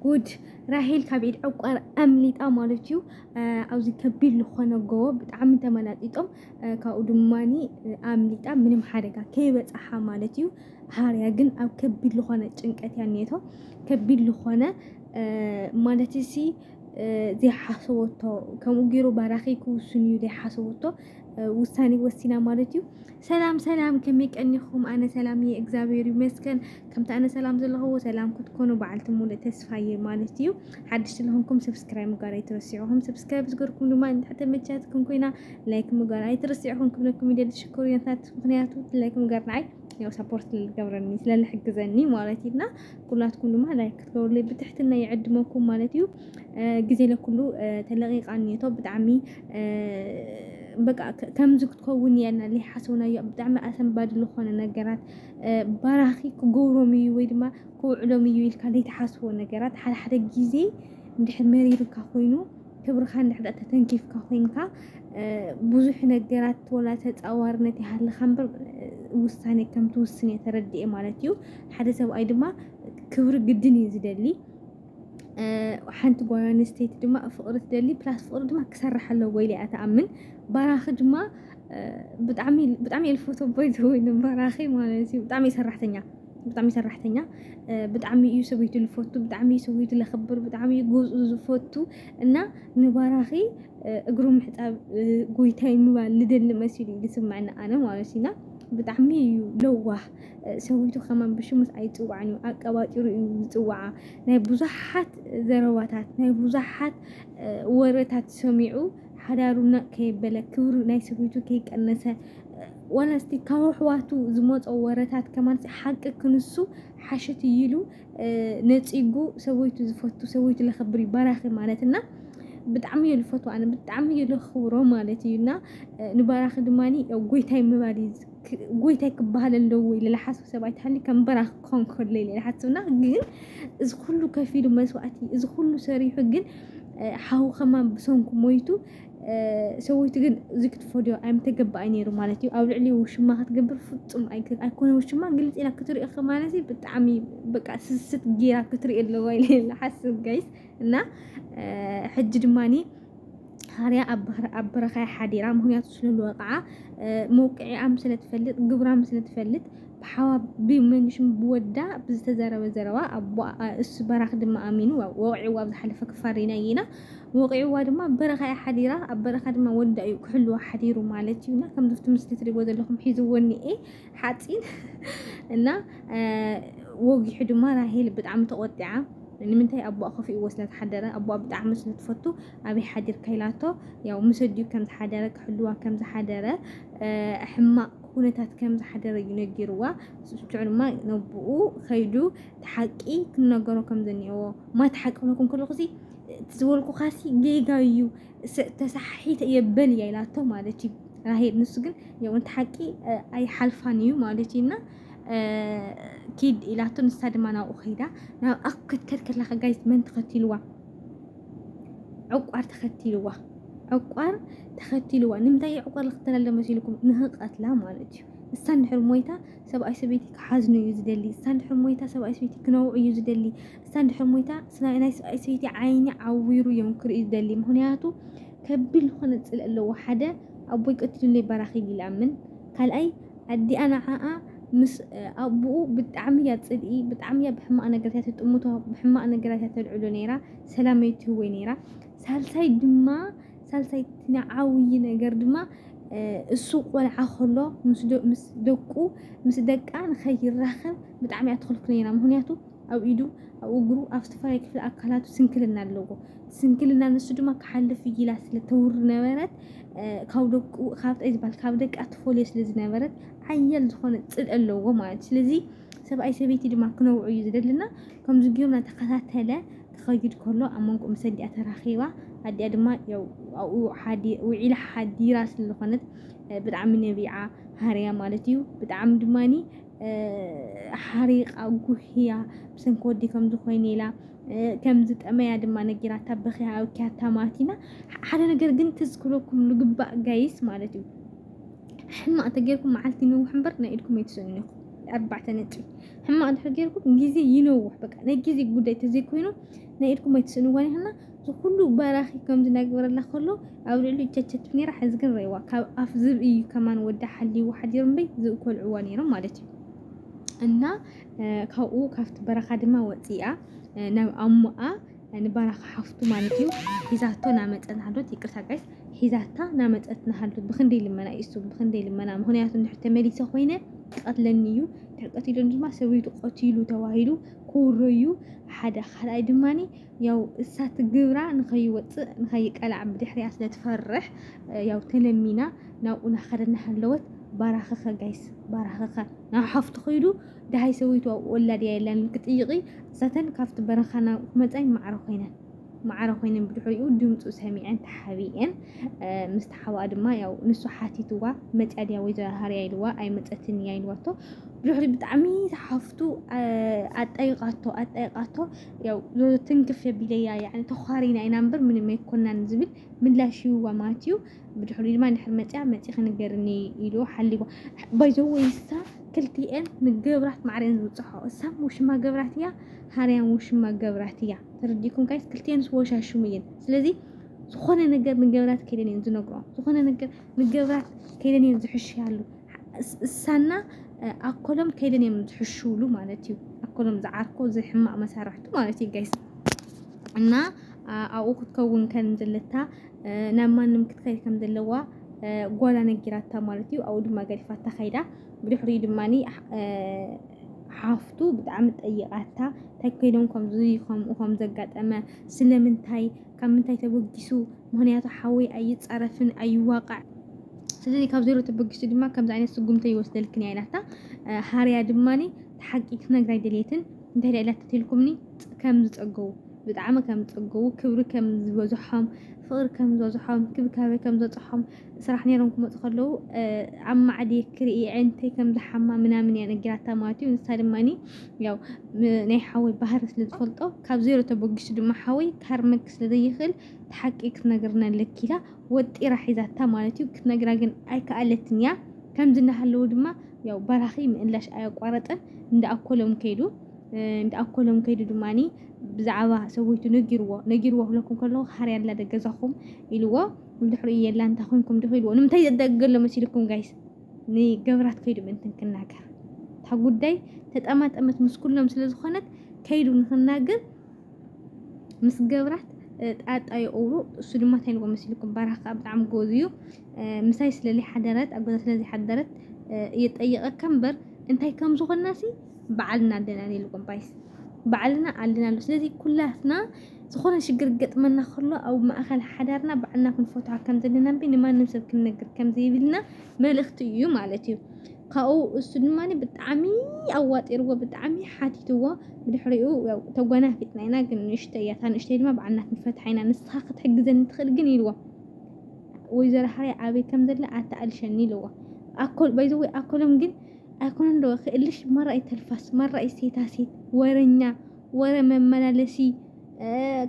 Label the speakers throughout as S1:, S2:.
S1: ጉድ ራሄል ካብ ኢድ ዕቋር ኣምሊጣ ማለት እዩ ኣብዚ ከቢድ ዝኾነ ጎቦ ብጣዕሚ ተመላጢጦም ካብኡ ድማ ኣምሊጣ ምንም ሓደጋ ከይበፅሓ ማለት እዩ ሃርያ ግን ኣብ ከቢድ ዝኾነ ጭንቀት እያ ኔቶ ከቢድ ዝኾነ ማለት እሲ ዘይሓሰበቶ ከምኡ ገይሩ ባራኺ ክውስን እዩ ዘይሓሰበቶ ውሳኔ ወሲና ማለት እዩ ሰላም ሰላም ከመይ ቀኒኹም ኣነ ሰላም እየ እግዚኣብሔር ይመስገን ከምቲ ኣነ ሰላም ዘለኹዎ ሰላም ክትኮኑ በዓልቲ ሙሉእ ተስፋ እየ ማለት እዩ ሓድሽቲ ዝኾንኩም ሰብስክራይብ ምግባር ኣይትረስዕኹም ሰብስክራይብ ዝገርኩም ድማ ንታሕተ መቻትኩም ኮይና ላይክ ምግባር ኣይትረስዕኹም ክብለኩም ይደሊ ሽኮርያታት ምክንያቱ ላይክ ምግባር ንዓይ ያው ሰፖርት ልገብረኒ ስለልሕግዘኒ ማለት እዩና ኩላትኩም ድማ ላይክ ክትገብሩለይ ብትሕትና ይዕድመኩም ማለት እዩ ግዜ ለኩሉ ተለቂቃ እኒሀቶ ብጣዕሚ በቃ ከምዚ ክትከውን እያ እና ዘይሓሰብናዮ ብጣዕሚ ኣሰንባዲ ዝኾነ ነገራት ባራኺ ክገብሮም እዩ ወይ ድማ ክውዕሎም እዩ ኢልካ ዘይትሓስቦ ነገራት ሓደ ሓደ ግዜ እንድሕር መሪሩካ ኮይኑ ክብርኻ እንድሕር ተተንኪፍካ ኮይንካ ብዙሕ ነገራት ወላ ተፃዋርነት ይሃልኻ እምበር ውሳኔ ከምትውስን እየ ተረዲኤ ማለት እዩ። ሓደ ሰብኣይ ድማ ክብሪ ግድን እዩ ዝደሊ። ሓንቲ ጓል ኣንስተይቲ ድማ ፍቕሪ ትደሊ ፕላስ ፍቕሪ ድማ ክሰርሕ ኣለዎ ኢለ እያ ትኣምን ባራኺ ድማ ብጣዕሚ ብጣዕሚ እየ ዝፈትዎ ቦይ ዝወይ ንባራኺ ማለት እዩ ብጣዕሚ ሰራሕተኛ ብጣዕሚ ሰራሕተኛ ብጣዕሚ እዩ ሰበይቱ ዝፈቱ ብጣዕሚ እዩ ሰበይቱ ዘኽብር ብጣዕሚ እዩ ገዝኡ ዝፈቱ እና ንባራኺ እግሩ ምሕፃብ ጎይታይ ምባል ልደሊ መሲሉ እዩ ዝስምዐኒ ኣነ ማለት እዩና ብጣዕሚ እዩ ለዋህ ሰዊቱ ከማን ብሽሙስ ኣይጽዋዕን እዩ ኣቀባጢሩ እዩ ዝጽዋዓ ናይ ብዙሓት ዘረባታት ናይ ብዙሓት ወረታት ሰሚዑ ሓዳሩ ነቕ ከየበለ ክብሩ ናይ ሰዊቱ ከይቀነሰ ዋላ እስቲ ካብ ኣሕዋቱ ዝመጾ ወረታት ከማን ሓቂ ክንሱ ሓሽት እይሉ ነጺጉ ሰዊቱ ዝፈቱ ሰዊቱ ለኸብር እዩ ባራኺ ማለት እና ብጣዕሚ እዩ ዝፈቱ ኣነ ብጣዕሚ እዩ ለኽብሮ ማለት እዩ እና ንባራኺ ድማ ጎይታይ ምባል እዩ ጎይታይ ክበሃል ኣለዎ ኢለ ዝሓስብ ሰብ ኣይትሃሊ ከም በራኽ ክኸውን ከሎ ኢለ ዝሓስብና ግን እዚ ኩሉ ከፊሉ መስዋእቲ እዚ ኩሉ ሰሪሑ ግን ሓው ከማን ብሰንኩ ሞይቱ ሰወይቱ ግን እዚ ክትፈድዮ ኣይምተገባኣይ ነይሩ ማለት እዩ ኣብ ልዕሊ ውሽማ ክትገብር ፍፁም ኣይኮነ ውሽማ ግልፂ ኢላ ክትሪኦ ከማነዚ ብጣዕሚ በቃ ስስት ጌራ ክትሪኦ ኣለዋ ኢለ ዝሓስብ ጋይስ እና ሕጂ ድማኒ ሃርያ ኣብ በረኻያ ሓዲራ ምክንያቱ ስለዝወቕዓ መውቅዒኣም ስለትፈልጥ ግብራም ስለትፈልጥ ብሓዋ ብመንሽም ብወዳ ብዝተዘረበ ዘረባ እሱ በራኽ ድማ ኣሚኑ ወቂዕዋ ኣብ ዝሓለፈ ክፋል ሪናይ ኢና ወቂዕዋ ድማ በረኻያ ሓዲራ ኣብ በረኻ ድማ ወዳ እዩ ክሕልዋ ሓዲሩ ማለት እዩና ከምዝፍቲ ምስሊ ትሪቦ ዘለኹም ሒዝዎ እኒኤ ሓፂን እና ወጊሑ ድማ ራሄል ብጣዕሚ ተቖጢዓ ንምንታይ ኣቦኣ ከፊእዎ ስለ ዝሓደረ ኣቦኣ ብጣዕሚ ስለ ትፈቱ ኣበይ ሓዲርካ ኢላቶ ያው ምስ ኣዲኡ ከም ዝሓደረ ክሕልዋ ከም ዝሓደረ ሕማቕ ኩነታት ከም ዝሓደረ እዩ ነጊርዋ ስዑ ድማ ነቦኡ ከይዱ ተሓቂ ክነገሮ ከም ዘኒኤዎ ማት ሓቂ ክብለኩም ከለኹ እቲ ዝበልኩኻሲ ጌጋ እዩ ተሳሓሒተ እየ በል እያ ኢላቶ ማለት እዩ ራሄል። ንሱ ግን የውንቲ ሓቂ ኣይሓልፋን እዩ ማለት እዩ እና ኪድ ኢላቶ ንሳ ድማ ናብኡ ከይዳ ናብ ኣፍ ክትከድ ከላ ከጋይት መን ተኸቲልዋ ዕቋር ተኸቲልዋ ዕቋር ተኸቲልዋ ንምንታይ ዕቋር ዝኽተለለ መሲልኩም ንህቐትላ ማለት እዩ እሳ እንድሕር ሞይታ ሰብኣይ ሰበይቲ ክሓዝኑ እዩ ዝደሊ እሳ እንድሕር ሞይታ ሰብኣይ ሰበይቲ ክነውዑ እዩ ዝደሊ እሳ ድሕሪ ሞይታ ናይ ሰብኣይ ሰይቲ ዓይኒ ዓዊሩ እዮም ክርኢ ዝደሊ ምክንያቱ ከቢድ ዝኾነ ፅልእ ኣለዎ ሓደ ኣቦይ ቀቲሉለይ በራኺ ኢሉ ይኣምን ካልኣይ ኣዲኣ ንዓኣ ምስ ኣቦኡ ብጣዕሚ እያ ፅልኢ ብጣዕሚ እያ ብሕማቕ ነገራት እያ ትጥምቶ ብሕማቕ ነገራት እያ ተልዕሎ ነይራ ሰላም ኣይትህወይ ነይራ ሳልሳይ ድማ ሳልሳይ ንዓብዪ ነገር ድማ እሱ ቆልዓ ከሎ ምስ ደቁ ምስ ደቃ ንኸይራኸብ ብጣዕሚ እያ ትኽልክሎ ነይራ ምክንያቱ ኣብ ኢዱ፣ ኣብ እግሩ፣ ኣብ ዝተፈላለዩ ክፍሊ ኣካላቱ ስንክልና ኣለዎ። ስንክልና ንሱ ድማ ክሓልፍ እዩ ኢላ ስለ ተውሪ ነበረት ካብ ደቁ ካብ ጣይ ዝበሃል ካብ ደቃ ትፈልዮ ስለ ዝነበረት ሓያል ዝኾነ ፅልኢ ኣለዎ ማለት ስለዚ ሰብኣይ ሰበይቲ ድማ ክነውዑ እዩ ዝደልና ከምዚ ጊዮም እናተኸታተለ ክኸይድ ከሎ ኣብ መንጎ ምስ ኣዲኣ ተራኺባ ኣዲኣ ድማ ያው ኣብኡ ሓዲ- ውዒላ ሓዲራ ስለዝኾነት ብጣዕሚ ነቢዓ ሃርያ ማለት እዩ ብጣዕሚ ድማኒ ሓሪቓ ጉህያ ብሰንኪ ወዲ ከምዚ ኮይኑ ኢላ ከም ዝጠመያ ድማ ነጊራታ በኺያ ኣብኪያታ ማቲና ሓደ ነገር ግን ክዝክረኩም ልግባእ ጋይስ ማለት እዩ ሕማቕ ተጌርኩም መዓልቲ ይነውሕ እምበር ናይ ኢድኩም ኣይትስእኑ ኢኹም ኣርባዕተ ነጥቢ ሕማቕ ድሕሪ ጌርኩም ግዜ ይነውሕ በቃ ናይ ግዜ ጉዳይ ተዘይኮይኑ ናይ ኢድኩም ኣይትስእንዋን ኢኹና እዚ ኩሉ በራኺ ከምዚ ናግበረላ ከሎ ኣብ ልዕሊኡ ቸቸት ነይራ ሕዚ ግን ረይዋ ካብ ኣፍ ዝብኢ እዩ ከማን ወዳ ሓልይዎ ሓዲሩ እምበይ ዝብኢ ኮልዕዋ ነይሮም ማለት እዩ እና ካብኡ ካብቲ በረኻ ድማ ወፂኣ ናብ ኣሞኣ ንበረኻ ሓፍቱ ማለት እዩ ሒዛቶ ናመፀን ሃሎት ይቅርታ ጋይስ ሒዛታ ናመፀት ናሃሎት ብክንደይ ልመና እዩ እሱ ብክንደይ ልመና ምክንያቱ እንድሕር ተመሊሰ ኮይነ ክቐትለኒ እዩ ድሕር ቀቲሉ ድማ ሰበይቱ ቀቲሉ ተባሂሉ ክውረዩ ሓደ ካልኣይ ድማኒ ያው እሳ ትግብራ ንኸይወፅእ ንኸይቀላዕ ብድሕሪያ ስለ ትፈርሕ ያው ተለሚና ናብኡ ናኸደ እናሃለወት ባራኸኸ ጋይስ ባራኸኸ ናብ ሓፍቱ ኸይዱ ድሃይ ሰበይቱ ኣብኡ ወላድያ የላን ክጥይቂ እሳተን ካብቲ በረኻ ናብ መፃይ ማዕረ ኮይነን ማዕረ ኮይነን ብድሕሪኡ ድምፁ ሰሚዐን ተሓቢኤን ምስ ተሓባኣ ድማ ያው ንሱ ሓቲትዋ መፅያ ድያ ወይዘሮ ሃርያ ኢልዋ ኣይመፀትን እያ ኢልዋቶ ብድሕሪ ብጣዕሚ ተሓፍቱ ኣጣይቃቶ ኣጣይቃቶ ያው ትንክፍ የቢለያ ያኒ ተዃሪና ኢና እምበር ምንም ኣይኮናን ዝብል ምላሽ ይህዋ ማለት እዩ ብድሕሪ ድማ እንድሕር መፅያ መፂ ክንገርኒ ኢሉ ሓሊቦ ባይዘወ ይሳ ክልቲኤን ንገብራት ማዕረን ዝውፅሖ እሳ ውሽማ ገብራት እያ ሃርያን ውሽማ ገብራት እያ ተረዲኩም ካይስ ክልቲኤን ዝወሻሽሙ እየን ስለዚ ዝኾነ ነገር ንገብራት ከይደን እየን ዝነግሮም ዝኾነ ነገር ንገብራት ከይደን እየን ዝሕሽያሉ እሳና ኣኮሎም ከይደን እዮም ዝሕሽውሉ ማለት እዩ። ኣኮሎም ዝዓርኮ ዝሕማቅ መሳርሕቱ ማለት እዩ ጋይስ እና ኣብኡ ክትከውን ከም ዘለታ ናብ ማንም ክትከይድ ከም ዘለዋ ጓላ ነጊራታ ማለት እዩ። ኣብኡ ድማ ገዲፋታ ከይዳ ብድሕሪኡ ድማ ሓፍቱ ብጣዕሚ ጠይቃታ እንታይ ኮይኖም ከምዚ ከምኡ ከም ዘጋጠመ ስለምንታይ ካብ ምንታይ ተበጊሱ ምክንያቱ ሓወይ ኣይጻረፍን ኣይዋቃዕ ስለዚ ካብ ዜሮ ተበጊሱ ድማ ከምዚ ዓይነት ስጉምቲ ይወስደልክን እያ ኢላታ ሃርያ ድማ ሓቂ ክትነግራ ኣይደልየትን እንታይ ደኣ ኢላ ተትልኩምኒ ከም ዝጸገቡ ብጣዕሚ ከም ዝጸገቡ ክብሪ ከም ዝበዝሖም ፍቕሪ ከም ዝበዝሖም ክብካበ ከም ዝበጽሖም ስራሕ ኔሮም ክመጹ ከለዉ ኣብ ማዕዲ ክርኢ ዕንተይ ከም ዝሓማ ምናምን እያ ነጊራታ ማለት እዩ ንሳ ድማ ያው ናይ ሓወይ ባህሪ ስለ ዝፈልጦ ካብ ዜሮ ተበጊሱ ድማ ሓወይ ካርመክ ስለ ዘይኽእል ትሓቂ ክትነግርና ኣለኪ ኢላ ወጢራ ሒዛታ ማለት እዩ ክትነግራ ግን ኣይከኣለትን እያ ከምዚ እናሃለዉ ድማ ያው በራኺ ምእላሽ ኣያቋረጠን እንዳ ኣኮሎም ከይዱ እንዳ ኣኮሎም ከይዱ ድማኒ ብዛዕባ ሰበይቱ ነጊርዎ ነጊርዎ ክብለኩም ከለኹ ሃርያ ኣላ ደገዛኹም ኢልዎ ብድሕሪኡ የላ እንታይ ኮንኩም ዲኹ ኢልዎ ንምንታይ ዘደግገሎ መሲልኩም ጋይስ ንገብራት ከይዱ ምእንትን ክናገር እታ ጉዳይ ተጠማጠመት ምስ ኩሎም ስለ ዝኾነት ከይዱ ንክናገር ምስ ገብራት ጣጣ የቕብሩ እሱ ድማ እንታይ ኢልዎ መሲልኩም ባራኽ ከዓ ብጣዕሚ ጎዝ እዩ ምሳይ ስለለይ ሓደረት ኣብ ገዛ ስለዚ ሓደረት እየጠየቐካ እምበር እንታይ ከም ዝኾናሲ በዓልና ኣለና ኢልኩም ባይስ በዓልና ኣለና ኣሎ ስለዚ ኩላትና ዝኾነ ሽግር ክገጥመና ከሎ ኣብ ማእኸል ሓዳርና ባዕልና ክንፈትሖ ከም ዘለና እምቢ ንማንም ሰብ ክንነግር ከም ዘይብልና መልእኽቲ እዩ ማለት እዩ ካብኡ እሱ ድማ ብጣዕሚ ኣዋጢርዎ ብጣዕሚ ሓቲትዎ ብድሕሪኡ ያው ተጓናፊጥና ኢና ግን ንእሽተይ እያ እታ ንእሽተይ ድማ ባዕልና ክንፈትሓ ኢና ንስኻ ክትሕግዘኒ ትኽእል ግን ኢልዎ ወይዘሮ ሓርያ ኣበይ ከም ዘለ ኣተኣልሸኒ ኢልዎ ኣኮል ባይዘወይ ኣኮሎም ግን ኣይኮነን ዶ ክእልሽ መራይ ተልፋስ መራይ ሴታ ሴት ወረኛ ወረ መመላለሲ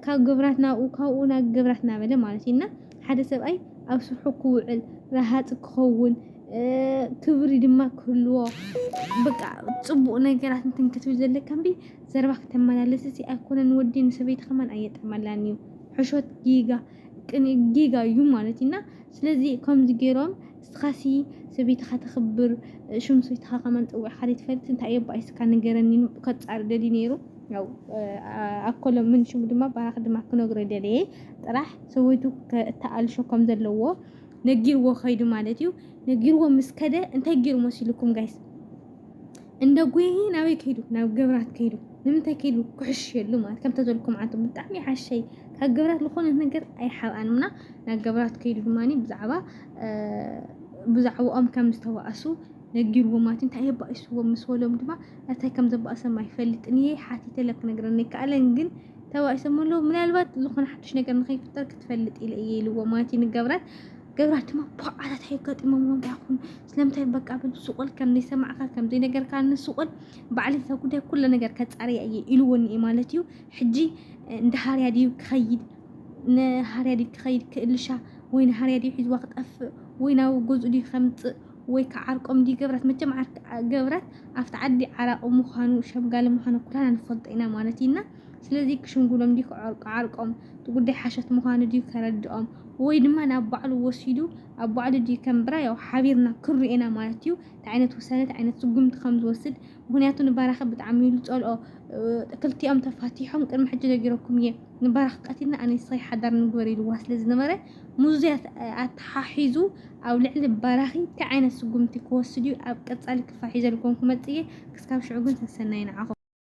S1: ካብ ግብራት ናብኡ ካብኡ ናብ ግብራት እናበለ ማለት እዩ እና ሓደ ሰብኣይ ኣብ ስርሑ ክውዕል ረሃፅ ክኸውን ክብሪ ድማ ክህልዎ በቃ ፅቡቕ ነገራት እንትን ክትብል ዘለካ እምቢ ዘረባ ክተመላለስ እዚ ኣይኮነን ወዲ ንሰበይቲ ከማን ኣየጥዕመላን እዩ ሕሾት ጌጋ ጌጋ እዩ ማለት እዩ እና ስለዚ ከምዚ ገይሮም እስኻሲ ሰበይትኻ ተኽብር ሽም ሰበይትኻ ከማን ፀዊዕኻ ዘይትፈልጥ እንታይ እየ እባ እስካ ንገረኒ ከፃሪ ደልዩ ነይሩ ያው ኣኮሎ ምን ሽሙ ድማ ባራኽ ድማ ክነግሮ ደለየ ጥራሕ ሰበይቱ እተኣልሾ ከም ዘለዎ ነጊርዎ ከይዱ ማለት እዩ ነጊርዎ ምስ ከደ እንታይ ገይሩ መሲልኩም ጋይስ እንደ ጉሂ ናበይ ከይዱ ናብ ግብራት ከይዱ ንምንታይ ከይዱ ክሕሽ የሉ ማለት ከምተ ዘልኩም ዓንተ ብጣዕሚ ሓሸይ ካብ ግብራት ዝኾነ ነገር ኣይሓብኣን ምና ናብ ግብራት ከይዱ ድማ ብዛዕባ ብዛዕባኦም ከም ዝተባእሱ ነጊርዎ ማለት እንታይ የባእስዎ ምስ በሎም ድማ እንታይ ከም ዘባእሰም ኣይፈልጥን እየ ሓቲተ ለ ክነግረኒ ይከኣለን ግን ተባእሶም ኣለዉ ምናልባት ዝኾነ ሓድሽ ነገር ንኸይፍጠር ክትፈልጥ ኢለ እየ ኢልዎ ማለት እዩ ንገብራት ገብራት ድማ ብቕዓታት ኣየጋጥሞምዎ እንታይ ይኹን ስለምንታይ በቃ በሉ ስቑል ከም ዘይሰማዕካ ከም ዘይነገርካ ንስቑል ባዕሊ እዛ ጉዳይ ኩለ ነገር ከፃርያ እየ ኢልዎኒ እየ ማለት እዩ ሕጂ እንደ ሃርያ ድዩ ክኸይድ ንሃርያ ድዩ ክኸይድ ክእልሻ ወይ ንሃርያ ድዩ ሒዝዋ ክጠፍእ ወይ ናብ ገዝኡ ድዩ ከምፅእ ወይ ክዓርቆም ድዩ ገብራት መቸም ገብራት ኣብቲ ዓዲ ዓራቂ ምዃኑ ሸምጋሊ ምዃኑ ኩላና ንፈልጦ ኢና ማለት እዩና ስለዚ ክሽምግሎም ድዩ ክዓርቆም፣ እቲ ጉዳይ ሓሶት ምዃኑ ድዩ ከረድኦም፣ ወይ ድማ ናብ ባዕሉ ወሲዱ ኣብ ባዕሉ ድዩ ከንብራ፣ ያው ሓቢርና ክንሪኦ ኢና ማለት እዩ፣ እንታይ ዓይነት ውሳነ እንታይ ዓይነት ስጉምቲ ከም ዝወስድ፣ ምኽንያቱ ንባራኺ ብጣዕሚ እዩ ዝጸልኦ፣ ክልቲኦም ተፋቲሖም ቅድሚ ሕጂ ነጊረኩም እየ፣ ንባራኺ ቀቲልና ኣነይ ንስኺ ሓዳር ንግበር ኢልዋ ስለ ዝነበረ፣ ምስዚ ኣተሓሒዙ ኣብ ልዕሊ ባራኺ እንታይ ዓይነት ስጉምቲ ክወስድ እዩ ኣብ ቀጻሊ ክፋል ሒዘልኩም ክመጽእ እየ፣ ክስካብ ሽዑ ግን ሰሰናዩ ንዓኹም።